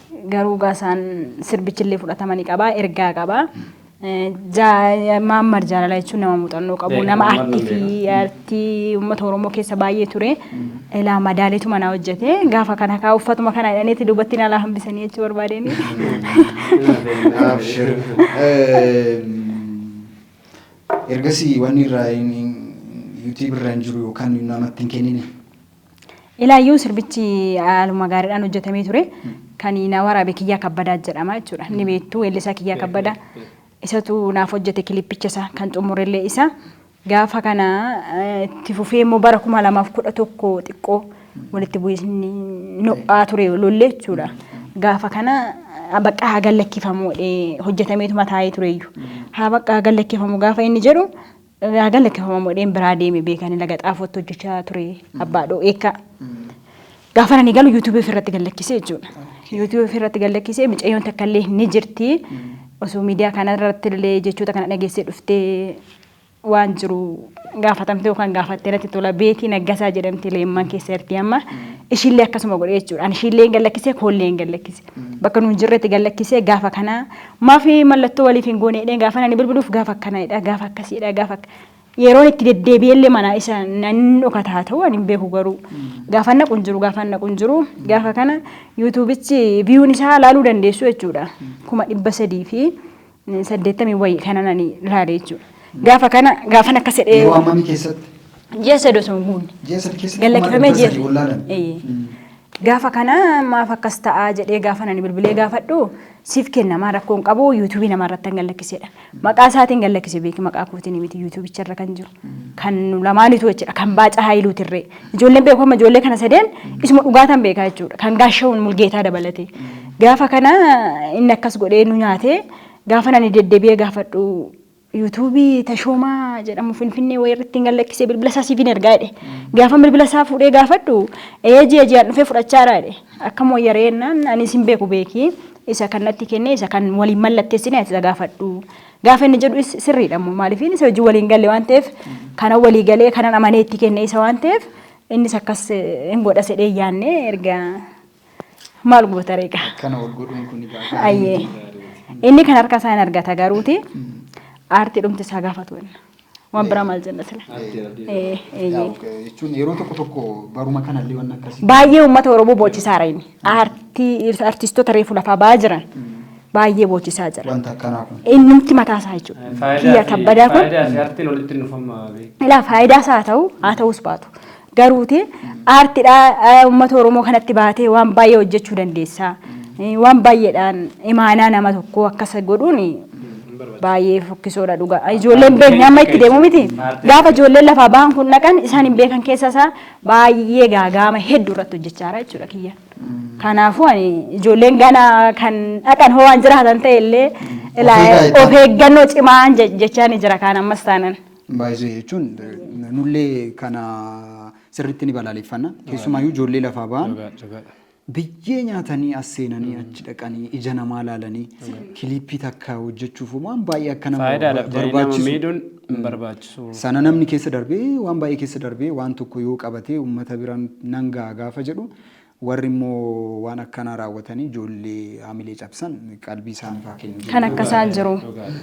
S3: Garuu gaa isaan sirbichillee fudhatama ni qaba, ergaa qaba. Maammar jaalala jechuun nama muuxannoo qabu, nama artii fi artii uummata Oromoo keessa baay'ee ture. Ilaa madaaleetu manaa hojjete. Gaafa kana kaa uffatuma kana hidhaneeti duubatti nalaa hambisanii jechuu barbaadeen. Abshir.
S1: Ergasii wanni irraa yuutii birra hin jiru yookaan namatti hin kennine. Ilaayyuu
S3: sirbichi haaluma gaariidhaan hojjetamee ture. Kan na waraabe Kiyyaa Kabbadaa jedhama jechuudha. Ni beektu weellisaa Kiyyaa Kabbadaa. Isatu naaf hojjete kilippicha isaa kan xumurellee isa. Gaafa kana eh, itti fufee immoo bara kuma lamaaf kudha tokko xiqqoo walitti bu'iisni no'aa ture lollee jechuudha. Gaafa kana ah, bakka haa gallakkifamu jedhee hojjetameetuma taa'ee tureeyyu. Haa bakka haa gallakkifamu gaafa inni jedhu Yaa gala kifama modheen biraa deeme beekani laga xaafootti hojjechaa ture abbaa dhoo eekkaa. Gaafa ani galu yuutuubii ofirratti gallakkisee jechuudha. Yuutuubii ofirratti gallakkisee micayyoon takka illee ni jirti. Osoo miidiyaa kana irratti illee jechoota kana dhageessee dhuftee waan jiru gaafatamte yookaan gaafattee natti tola beetii naggasaa jedhamti leemman keessa jirti amma. Ishiillee akkasuma godhee jechuudha. Ani ishiillee hin gallakkisee koollee hin gallakkise. Bakka nuun jirretti gallakkisee gaafa kanaa Maafi mallattoo waliif hin goone jedhee gaafan ani bilbiluuf gaafa akkana jedha, gaafa akkasii jedha, gaafa akka yeroon itti deddeebi'ee illee manaa isa nan dhokata haa ta'u ani hin beeku garuu gaafan naqu hin jiru gaafan naqu hin jiru gaafa kana yuutuubichi viyuun isaa laaluu dandeessu jechuudha kuma dhibba sadii fi saddeettamii wayii kanan ani laale jechuudha. Gaafa kana gaafan akkas jedhee Yeroo ammamii keessatti?
S1: ji'a sadii osoo
S3: hin guunne. Ji'a sadii keessatti Gad kuma lakkifamee
S1: dhibba ji'a sadii ol
S3: laalame. Eeyyee. Mm. Gaafa kana maaf akkas ta'a jedhee gaafan ani bilbilee gaafadhu siif kennamaa rakkoo hin qabu yuutuubii namaa irratti kan gallakkisedha. Maqaa isaatiin gallakkise beeki maqaa kootiin miti yuutuubicha irra kan jiru. Kan nu lamaanitu jechuudha kan baaca haayiluuti irree. Ijoolleen beeku amma ijoollee kana sadeen isuma dhugaataan beekaa jechuudha kan gaashawuun mulgeetaa dabalatee. Gaafa kana inni akkas godhee nu nyaatee gaafa ani deddebi'ee gaafadhu YouTube Tashoomaa jedhamu Finfinnee wayii irratti hin gallakkisee bilbila isaa siifin ergaa jedhe. Gaafa bilbila isaa fuudhee gaafadhu ee ji'a ji'aan dhufee fudhachaara jedhe. Akkam wayya ree jennaan ani isin beeku beeki isa kan natti kenne isa kan waliin mallatteessine ati isa gaafadhu. Gaafa inni jedhu sirriidha immoo maaliif isa hojii waliin galle waan ta'eef kana walii galee kanan amanee itti kenne isa waan ta'eef innis akkas hin godha sedhee yaannee erga Maal goota reeqa? Akkana ol godhuun kun
S1: egaa gaarii Ayyee. miti gaariiti.
S3: Inni kan harka isaa hin argata garuuti aartii dhumti isaa gaafatu inni. Waan biraa maal jenna sila? Aartii abdii. Eh, eh, Yaa,
S1: ok, jechuun yeroo tokko tokko baruma kanallee waan akkasii. Baay'ee uummata Oromoo
S3: boochisaara inni. Aartii artistoota reefu lafaa ba'aa jiran baay'ee boochisaa jira. Wanta akkanaa kun. Innumti
S1: mataa isaa jechuudha.
S3: Faayidaa Kiyya fi- kabbadaa kun faayidaa fi aartiin walitti hin dhufamma
S2: beeku. ilaa faayidaas
S3: haa ta'u haa ta'us baatu. Garuuti aartidha uummata Oromoo kanatti baatee waan baay'ee hojjechuu dandeessa. Waan baay'eedhaan imaanaa nama tokkoo akkas godhuun baay'ee fokkisoodha dhugaa. Ijoolleen beekni amma itti deemu miti. Gaafa ijoolleen lafaa bahan kun dhaqan isaan hin beekan keessa isaa baay'ee gaagaama hedduu irratti hojjechaa jira jechuudha kiyya. Kanaafuu ani ijoolleen gana kan dhaqan hoo waan jiraatan ta'e illee of eeggannoo cimaan jechaa ni jira kaan ammas taanan. Baay'isee jechuun
S1: nullee kana sirriitti ni balaaleffanna. Keessumaayyuu ijoollee lafaa ba'an biyyee nyaatanii as seenanii achi dhaqanii ija namaa laalanii kiliippii takka hojjechuuf waan baay'ee akka nama barbaachisu. barbaachisu.
S2: Sana namni keessa darbee
S1: waan baay'ee keessa darbee waan tokko yoo qabatee uummata biraan nan ga'a gaafa jedhu Warri immoo waan akkanaa raawwatanii ijoollee haamilee cabsan qalbii isaaniif haa kennu. Kan akkasaan jiru.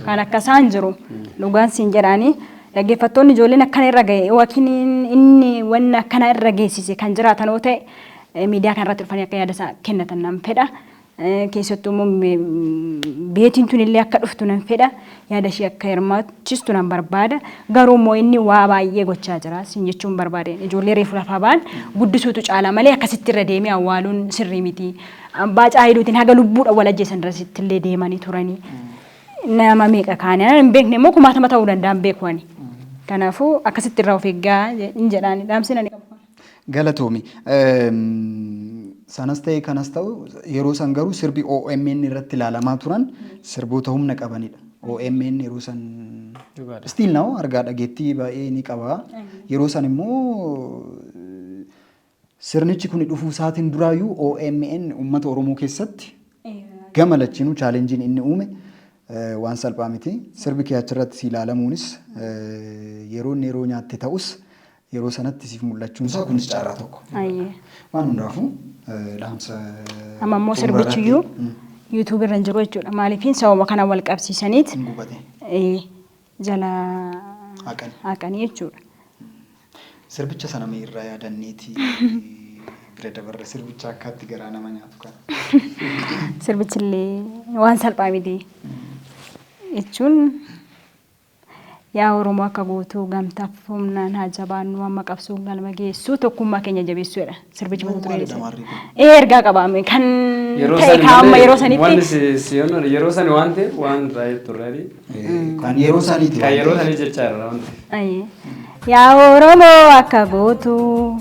S3: Kan akkasaan jiru. Dhugaan siin jedhaanii dhaggeeffattoonni ijoolleen akkana irra ga'e yookiin inni wanna akkana irra geessise kan jiraatan yoo ta'e miidiyaa kana irratti dhufanii akka yaada isaa kennatan nan fedha. Keessattuu immoo beetiin tun illee akka dhuftu nan fedha. Yaada ishee akka hirmaachistu nan barbaada. Garuu immoo inni waa baay'ee gochaa jira. Siin jechuun barbaade ijoollee reefu lafaa ba'an guddisuutu caala malee akkasitti irra deemee awwaaluun sirrii miti. Baacaa Hayiluutiin haga lubbuudhaan wal ajjeesan irratti illee deemanii turanii. Nama meeqa kaane hin beekne immoo kumaatama ta'uu danda'an beeku ani. Kanaafuu akkasitti irraa of eeggaa hin jedhaan dhaamsinani. Galatoomi.
S1: Sanas ta'e kanas ta'u yeroo san garuu sirbi OMN irratti ilaalamaa turan sirboota humna qabanidha. OMN yeroo san Dhugaadha. still now argaa dhageettii baay'ee ni qaba. Yeroo san immoo sirnichi kun dhufuu isaatiin duraayyuu OMN uummata Oromoo keessatti gama lachinuu chaalenjiin inni uume eh, waan salphaa miti. Sirbi kee achirratti si ilaalamuunis eh, yeroo inni yeroo nyaatte ta'us yeroo sanatti siif mul'achuun isaa kunis carraa tokko. Ayyee. Waan hundaafuu eh, dhaamsa Amma immoo xumura irratti,
S3: sirbichiyyuu mm, yuutuubii irra hin jiru jechuudha. Maaliifiin sababa kana wal qabsiisaniit hin gubate eh, jala haqan. haqanii jechuudha.
S1: Sirbicha sana mee irraa yaadanneeti bira dabarra sirbicha akkaatti garaa nama nyaatu kana. Sirbichillee
S3: waan salphaa miti jechuun Yaa Oromoo akka guutuu gamtaaf humnaan haa jabaannuu amma qabsoon galma geessuu tokkummaa keenya jabeessuu jedha sirbichi mata dureen isaa. Ee ergaa qabaame kan ta'e kaamma yeroo sanitti. Yeroo sani waan
S2: ta'eef waan raayee turreedhi. Kan yeroo
S1: saniiti. Kan yeroo sanii jechaa
S2: irra waan ta'eef. Yaa Oromoo
S3: akka guutuu.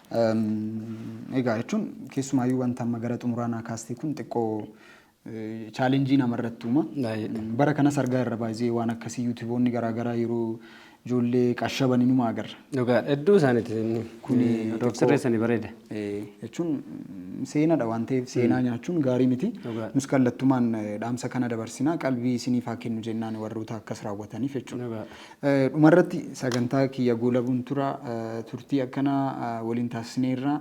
S1: Egaa jechuun keessumaayyuu wanta amma gara xumuraa naa kaastee kun xiqqoo chaalenjii namarratti uuma. Bara kanas argaa irra baay'ee waan akkasii yuutuboonni garaagaraa yeroo ijoollee qashaban inuma agarra. Dhugaa hedduu isaaniiti
S2: inni. Kuni Odoof sirreessanii bareeda. Jechuun
S1: seenadha waan ta'eef seenaa nyaachuun gaarii miti. Nus kallattumaan dhaamsa kana dabarsinaa qalbii isiniif haa kennu jennaan warroota akkas raawwataniif jechuudha. Dhumarratti sagantaa kiyya goolabuun tura. Turtii akkanaa waliin taasisneerra.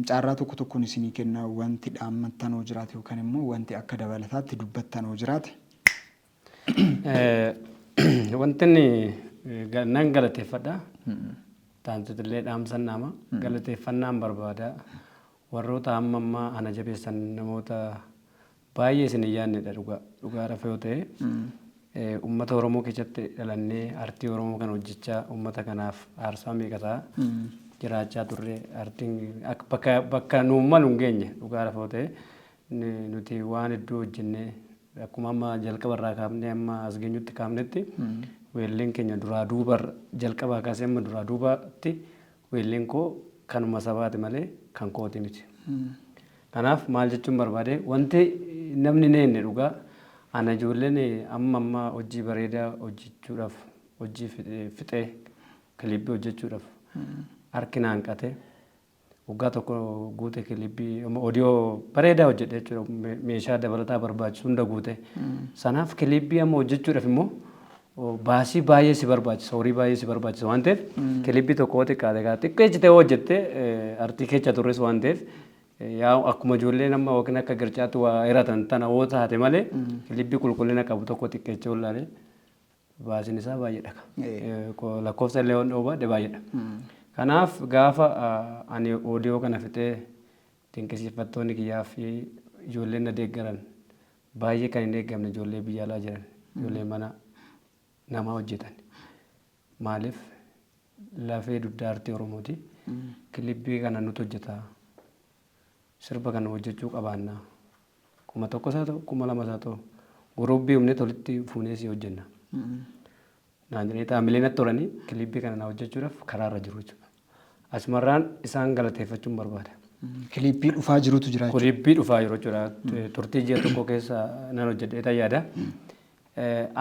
S1: Carraa tokko tokkoon isinii kenna wanti dhaammattan hoo jiraate yookaan immoo wanti akka dabalataatti dubbattan hoo jiraate.
S2: Wanti inni nan galateeffadha. Taantuutu illee dhaamsan dhaama. Galateeffannaan barbaada. Warroota hamma ammaa ana jabeessan namoota Baay'ee isin hin yaadnedha dhugaa. Dhugaa rafa yoo ta'e uummata Oromoo keessatti dhalannee artii Oromoo kana hojjechaa uummata kanaaf aarsaa meeqa ta'a jiraachaa turre artiin akka bakka bakka nuun malu hin geenye dhugaa rafa yoo ta'e ni- nuti waan hedduu hojjennee akkuma amma jalqaba irraa kaafnee amma as geenyutti kaafnetti weelleen keenya duraa duuba jalqabaa kaasee amma duraa duubaatti Weelliin koo kanuma sabaati malee kan kooti miti. Kanaaf maal jechuun barbaade wanti namni hin eegne dhugaa ana ijoolleen amma amma hojii bareedaa hojjechuudhaaf hojii fixee kilibbii hojjechuudhaaf harki na hanqate waggaa tokko guute kilibbii odiyoo bareedaa hojjedhe jechuudha meeshaa dabalataa barbaachisu hunda guute sanaaf kilibbii amma hojjechuudhaaf immoo baasii baay'ee si barbaachisa horii baay'ee si barbaachisa waan ta'eef kilipii tokko yoo xiqqaate kaa xiqqeessitee hojjette artii kecha turres waan ta'eef yaa akkuma ijoollee nama yookiin akka gircaatti waa hiratan tana yoo taate malee kilipii qulqullina qabu tokko xiqqeessee ollaalee baasiin isaa baay'eedha lakkoofsa illee waan dhoobaadhe baay'eedha. Kanaaf gaafa ani oodiyoo kana fixee dinqisiifattoonni kiyyaa fi ijoolleen na deeggaran Baay'ee kan hin eeggamne ijoollee biyya alaa jiran ijoollee mana namaa hojjetan maaliif lafee dugdaa artii oromooti kilibbii kana nutu hojjeta sirba kana hojjechuu qabaanna kuma tokkos haa ta'u kuma lamas haa ta'u guruubbii humne tolitti fuunee si hojjenna naan jedhanii xaamilee natti horanii kiliippii kana na hojjechuudhaaf karaarra jiru jechuudha. Asumarraan isaan galateeffachuun barbaada. Kiliippii dhufaa
S1: jirutu jira jechuudha. Kiliippii dhufaa jiru jechuudha.
S2: Turtii ji'a tokko keessa nan hojjedhee ta'e yaada.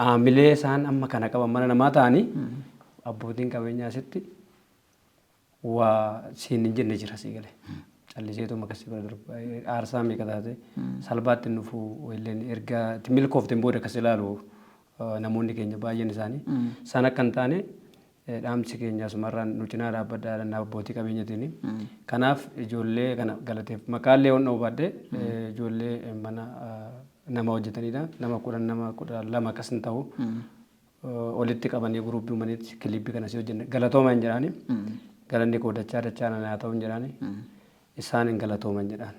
S2: Aamilee isaan amma kana qaban mana namaa ta'anii abbootiin qabeenyaa asitti waa siin hin jenne jira sii gale. Calliseetu makas si bira darba. Aarsaa meeqa taate salbaatti hin dhufu illeen erga itti milkoofteen booda akkas ilaalu eh, namoonni keenya baay'een isaanii. San akka hin taane eh, dhaamsi keenya asumarraan nu cinaa dhaabbadhaa dhannaa abbootii qabeenyatiin. Kanaaf ijoollee kana galateef maqaallee waan dha'uu baadhee eh, ijoollee eh, mana eh, nama hojjetanidha. Nama kudhan nama kudha lama akkas hin ta'u. olitti qabanii guruupii uumanitti kiliippi kanas hojjenne galatooman jedhaani. Galanni koo dachaa dachaa nana haa ta'uun jedhaani. Isaan hin galatooman jedhaan.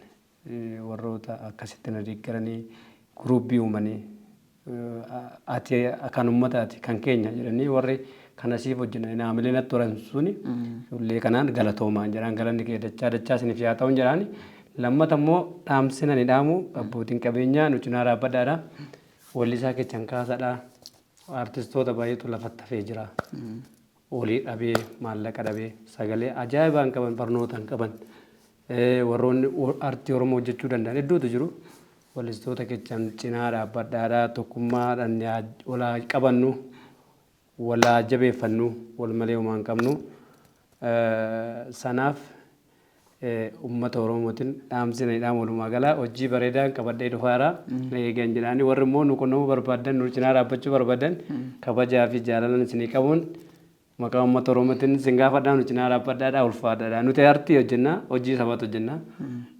S2: Warroota akkasitti na deeggaranii guruupii uumanii ati kan uummataati kan keenya jedhanii warri kana siif hojjenna naamilee natti horan suni illee kanaan galatoomaan jedhaan galanni kee dachaa dachaa isiniif yaa ta'uun jedhaani. Lammata immoo dhaamsina ni dhaamu abbootiin qabeenyaa nu cinaa dhaabbadhaadha. Wellisaa kechan kaasadha artistoota baay'eetu lafatti hafee jira. Olii dhabee maallaqa dhabee sagalee ajaa'ibaa hin qaban barnoota hin qaban eh, warroonni o- artii Oromoo hojjechuu danda'an hedduutu jiru. Wellistoota kechan cinaa dhaabbadhaadha tokkummaadhaan yaa- olaa qabannu. wal haa jabeeffannu wal malee homaa hin qabnu sanaaf ummata oromootin dhaamsi ani dhaamu walumaa gala hojii bareedaan qabadhee dhufaara na eegan jedhaani warri immoo nu qunnamuu barbaadan nu cinaa dhaabbachuu barbaadan kabajaa fi jaalalan isinii qabuun maqaa ummata oromootin isin gaafadhaa nu cinaa dhaabbadhaadhaa ulfaadhaadhaa nuti artii hojjennaa hojii sabaatu hojjennaa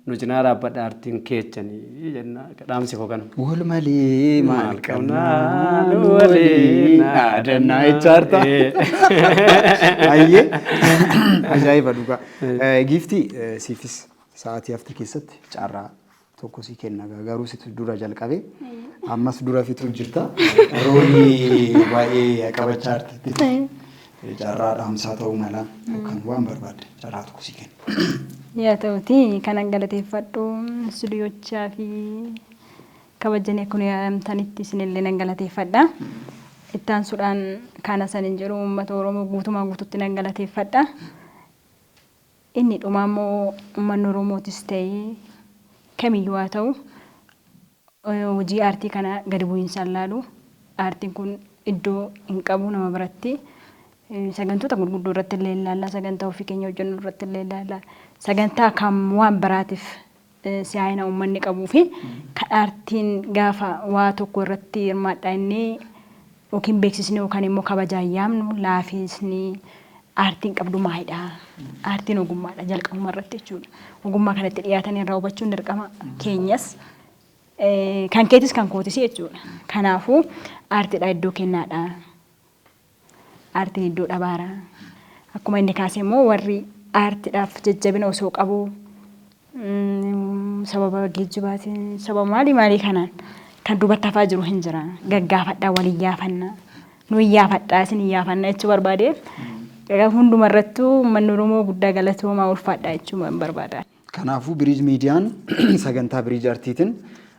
S2: Nu cinaa dhaabbadha artiin keechani jenna dhaamsi koo kana. Wal malee
S1: maal qabnaa nu waliin dhaadannaa jechaarta. Ayyee ajaa'iba dhugaa. Giiftii siifis sa'aatii hafte keessatti carraa tokko si kenna garuu situ dura jalqabe ammas dura fitu jirta roolii baay'ee qabachaa jirti. Carraa dhaamsaa ta'uu mala yookaan waan barbaadde carraa tokko sii kenna. Yaa ta'utii
S3: kanan galateeffadhu studiyochaa fi kabajjanii kun yaamtanitti isinillee nan galateeffadha. Ittaansuudhaan kaana sanin jedhu uummata Oromoo guutumaan guututti nan galateeffadha. Inni dhumaa immoo uummanni Oromootis ta'ee kamiyyuu haa ta'u hojii aartii kana gadi bu'iinsaan laalu. Aartiin kun iddoo hin qabu nama biratti. Sagantoota gurguddoo irratti illee hin laalla. Sagantaa ofii keenya hojjennu irratti illee hin laalla. Sagantaa kan waan biraatiif si'aayina uummanni qabuu fi kan aartiin gaafa waa tokko irratti hirmaadhaa inni yookiin beeksisni yookaan immoo kabajaan yaamnu laafiisni aartiin qabdu maalidha? Aartiin ogummaadha jalqabuma irratti jechuudha. Ogummaa kanatti dhiyaatanii irraa hubachuun dirqama keenyas kan keetis kan kootis jechuudha. Kanaafuu aartiidha iddoo kennaadha. Aartiin iddoo dhabaara. Akkuma inni kaase immoo warri aartiidhaaf jajjabina osoo qabu sababa geejjibaatiin sababa maalii maalii kanaan kan duubatti hafaa jiru hin jira gaggaafadhaa wal iyyaafanna nu iyyaafadhaa isin iyyaafanna jechuu barbaade egaa hunduma irrattuu uummanni Oromoo guddaa galatoomaa ulfaadhaa jechuu barbaada. Kanaafuu Biriij
S1: Miidiyaan sagantaa Biriij Artiitiin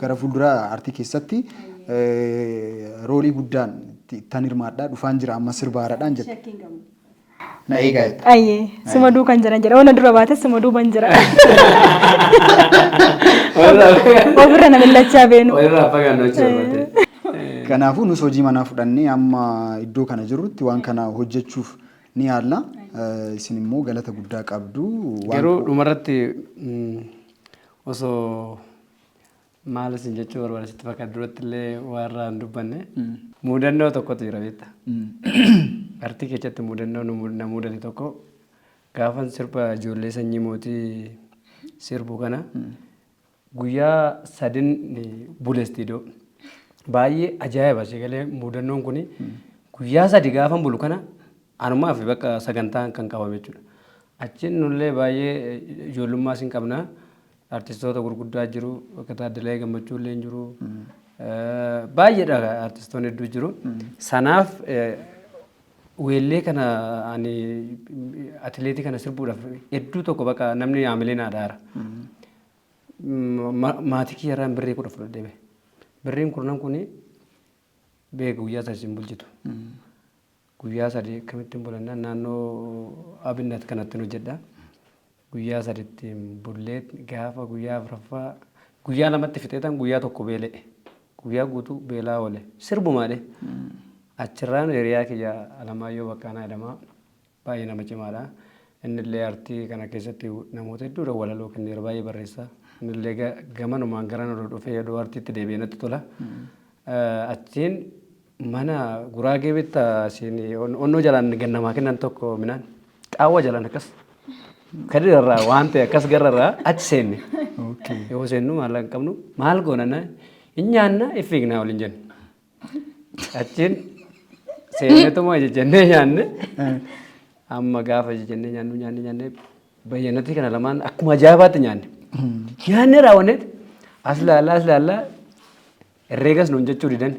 S1: Gara fuulduraa aartii keessatti roolii guddaan ittan hirmaadhaa dhufaan jira amma sirba haaraadhaan jette. Shakkii hin qabu. Na eegaa jetta. Ayyee suma
S3: duukan jiran jedha. Ona dura baates suma duuban jira. Ofirra na millachaa beenu. Walirraa fagaannoo jechuu
S2: barbaadde. Kanaafuu nus
S1: hojii manaa fudhannee amma iddoo kana jirrutti waan kana hojjechuuf ni yaalla. Eh, Isin immoo galata guddaa qabdu. Waan Garuu dhumarratti
S2: mm, osoo Maal isin jechuu barbaada sitti fakkaata duratti illee warra hin dubbanne. Muudannoo tokkotu jira beekta. Artii keessatti muudannoo nu mu- na muudate tokko gaafan sirba ijoollee sanyii mootii sirbu kana guyyaa sadin bule istiidoo. Baay'ee ajaa'iba si galee muudannoon kun guyyaa sadi gaafan bulu kana anumaa fi bakka sagantaan kan qabame jechuudha. Achiin nullee baay'ee ijoollummaa sin qabna. Artistoota gurguddaa jiru. Akka Taaddalaayee Gammachuu illee hin jiru. Baay'eedha artistoonni hedduu jiru. Sanaaf weellee kana ani atileetii kana sirbuudhaaf hedduu tokko bakka namni haamilee naa dhaara. Maatii kiyyarraan birrii kudha fudhadhee bahe. Birriin kurnan kuni beeka guyyaa sana isin bulchitu. Guyyaa sadii akkamittin bula jennaan naannoo Abinnat kanattin hojjedha. Guyyaa sadi ittiin bullee gaafa guyyaa afraffaa guyyaa lamatti fixeetan guyyaa tokko beela'e. Guyyaa guutuu beelaa oole. Sirbumaadhe. Achirraan hiriyaa kiyya Alamaayyoo Baqqaanaa jedhama. Baay'ee nama cimaadha. Innillee artii kana keessatti namoota hedduudha walaloo kenneera baay'ee barreessa. Innillee ga- gamanumaan gara nu dhufee oduu artiitti deebi'ee natti tola. Eh, Achiin Mana guraagee bitta siin onnoo jalaan gad namaa kennan tokko minaan qaawwa jalaan akkas kadira irraa waan ta'e akkas garra irraa achi seenne. Yoo seennu maallaqa hin qabnu maal goona na hin nyaanna hin fiignaa waliin jenne. Achiin seenneetuma jennee nyaanne amma gaafa jennee nyaannu nyaanne nyaanne bayyanatti kana lamaan akkuma ajaa'ibaatti nyaanne. Nyaanne raawwanneet as laallaa as laallaa Herreegas nuun jechuu didan.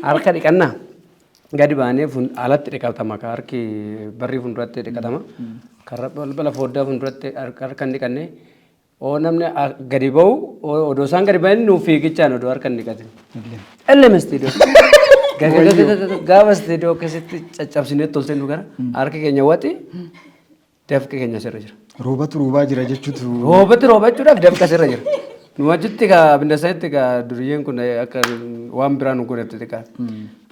S2: Harka dhiqannaa gadi baanee fun- alatti dhiqatama ka harki barrii fuulduratti dhiqatama. Karra balbala fooddaa fuulduratti har- harka hin dhiqanne. Oo namni a- gadi ba'u oo- odoo isaan gadi ba'in nuuf fiigichaan odoo harka hin dhiqatin. Ellem istiidiyoo. Gagagagagaga- Gaafa istiidiyoo keessatti caccabsinee toltee nu gara harki keenya waxi Dafqi keenya sirra jira. Roobatu roobaa jira
S1: jechuutu. Roobatti roobachuudhaaf
S2: dafqa sirra jira. Nu achitti ka bindasanitti ka duriyyeen kun akka waan biraa nu godhatti xiqqaa.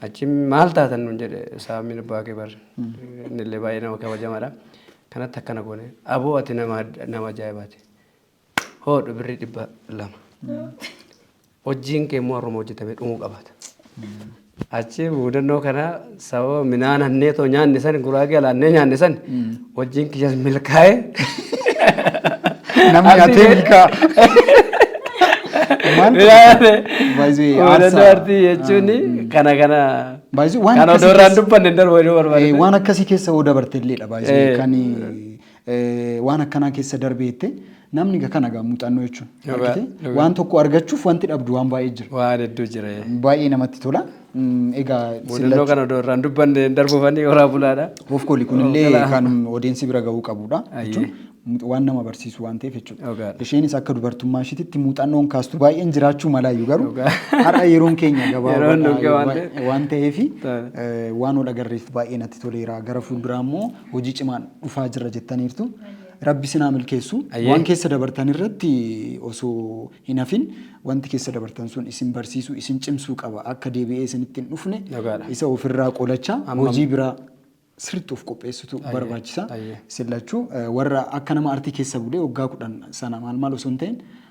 S2: Achi maal taatan nun jedhe saamiin abbaa kee barre. Innillee baay'ee nama kabajamaadha. Kanatti akkana goone. Aboo ati nama nama ajaa'ibaati. Hoodhu birrii dhibba lama. Hojiin kee immoo har'uma hojjetamee dhumuu qabaata. Achi mudannoo kana sababa minaan hannee too nyaanne san guraagee alaannee nyaanne san hojiin kiyyas milkaa'e.
S1: Namni nyaatee milkaa. Maal Baay'ee
S2: Mudannoo aarsaa. artii jechuun kana kana Baay'ee waan kan akkasii odoorraan keessa- dubbanne hin darbu jedhuu barbaade. Eh, waan akkasii keessa hoo
S1: dabarte illeedha baay'ee Eh. kan waan akkanaa keessa darbee jette namni ga kana ga muuxannoo jechuun Dhugaa- argite dhugaa. waan tokko argachuuf wanti dhabdu waan baay'ee jira Waa hedduu jira. ee.
S2: baay'ee namatti tola
S1: Mm, egaa Mudannoo sillachuu kana odoo
S2: irraan dubbanne hin darbufanii horaa bulaadha. of kooli kunillee
S1: Hoogganaa. kan odeensi bira ga'uu qabudha Ayyee. jechuun mu- waan nama barsiisu waan ta'eef jechuudha Dhugaadha. isheenis akka dubartummaa ishiititti muuxannoon kaastu baay'een jiraachuu malaayyuu garuu Dhugaa. har'a yeroon keenya Yeroon gabaabaa dhugaa waan ta'eef. waan ta'eef Ta'a. waan ol agarreef baay'ee natti toleera gara fuulduraa immoo hojii cimaan dhufaa jirra jettaniirtu. Rabbi isin haa milkeessu. Ayyee. Waan keessa dabartan irratti osoo hin hafin wanti keessa dabartan sun isin barsiisuu, isin cimsuu qaba. Akka deebi'ee isinitti hin dhufne Dhugaadha. isa ofirraa qolachaa Amma- hojii biraa sirriitti of qopheessitu Ayyee. barbaachisa. Ayyee. Isin lachuu eh, warra akka nama artii keessa bulee waggaa kudhan sana maal maal osoo hin ta'in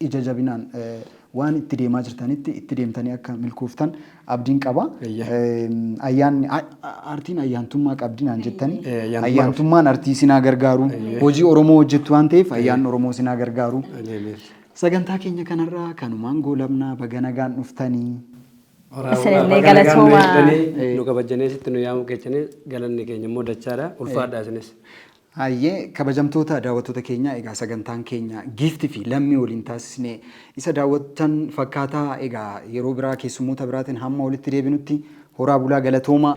S1: Ija jabinaan waan itti deemaa jirtanitti itti deemtanii akka milkooftan abdiin qaba. Eeyyee. Ayyaanni a- a- aartiin ayyaantummaa qabdi naan jettanii Ee, ayyaantummaa ayyaantummaan artii sinaa gargaaru Eeyyee. hojii Oromoo hojjettu waan ta'eef ayyaanni Oromoo sinaa gargaaru. Eeyyee. Sagantaa keenya kanarraa kanumaan goolabnaa baga nagaan dhuftanii.
S3: Isinillee galatoomaa. Nu kabajjanee
S2: sitti nu yaamuu keessaniif galanni keenya immoo dachaadha. Ulfaadhaa isinis. Hayyee
S1: kabajamtoota daawwattoota keenyaa egaa sagantaan keenya Giifti fi Lammii waliin taasisne isa daawwattan fakkaataa egaa yeroo biraa keessummoota biraatiin hamma walitti deebinutti horaa bulaa galatoomaa.